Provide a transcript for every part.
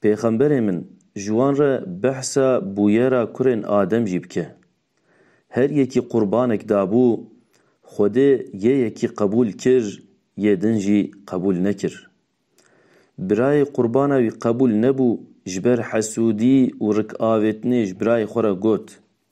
Pêxemberê min, ji wan re behsa bûyera kurên Adem jî bike. Her yekî qurbanek dabû, Xwedê yê yekî qebûl kir, yê din jî qebûl nekir. Birayê qurbana wî qebûl nebû, ji ber hesûdî û rikavêtinê ji birayê xwe re got,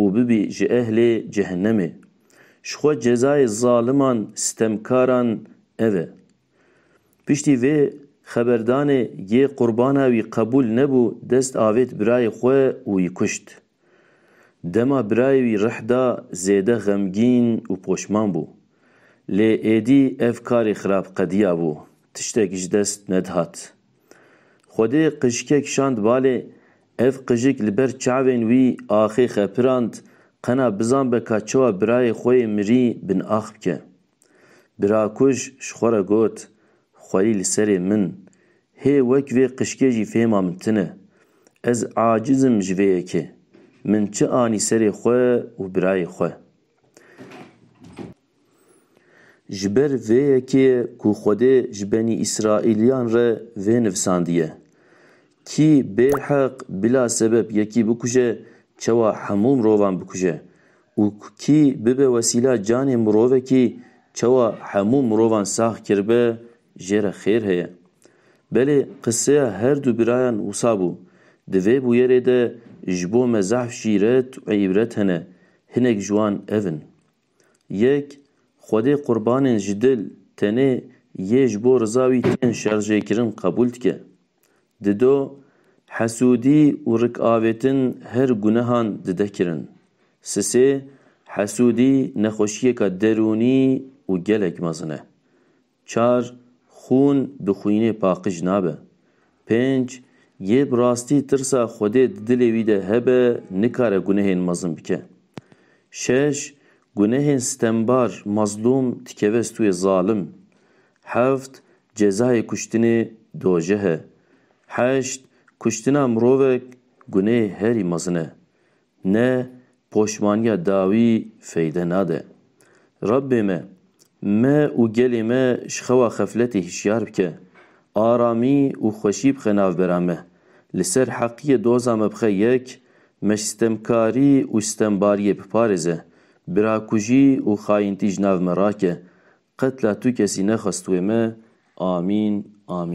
û bibî ji ehlê cehennemê. Ji xwe cezayê zaliman sitemkaran ev e. Piştî vê xeberdanê yê qurbana wî qebûl nebû dest avêt birayê xwe û wî kuşt. Dema birayê wî rih da zêde xemgîn û poşman bû. Lê êdî ev karê xirab qediyabû, tiştek ji dest nedihat. Xwedê qijike kişand balê, ev qijik li ber çavên wî axê xepirand, qena bizan be ka çawa birayê xwe yê mirî bin ax bike. Birakuj ji xwe re got, Xweyî li serê min, hê wek vê qijkê jî fêhma min tune. Ez aciz im ji vê yekê. Min çi anî serê xwe û birayê xwe. Ji ber vê yekê ye ku Xwedê ji Benî Îsraîliyan re vê nivîsandiye, Kî bêheq bila sebeb yekî bikuje çawa hemû mirovan bikuje û kî bibe wesîla canê mirovekî çawa hemû mirovan sax kiribe jê re xêr heye. Belê qiseya her du birayan wisa bû. Di vê bûyerê de ji bo me zehf jî ret û îbret hene, hinek ji wan ev in. Yek, Xwedê qurbanên ji dil tenê yê ji bo riza wî tên şerjêkirin qebûl dike. Di do, Hesûdî û rikavêtin her gunehan dide kirin. Sisê, Hesûdî nexweşiyêka derûnî û gelek mezin e. Çar, Xûn bi xwînê paqij nabe. Pênc, Yê bi rastî tirsa Xwedê di dilê wî de hebe nikare gunehên mezin bike. Şeş, Gunehên sitembar, mazlûm, dikeve stûyê zalim. Heft, Cezayê kuştinê dojeh e. Heşt, Kuştina mirovek gunehê herî mezin e. Ne poşmaniya dawî feyde nade. Rabbê me, me û gelê me ji xewa xefletê hişyar bike, aramî û xweşî bixe navbera me, li ser heqiyê doza me bixe yek, me ji sitemkarî û sitembariyê biparêze, birakujî û xayintî ji nav me rake, qetla tu kesî nexwest wê me. Amîn. Amîn.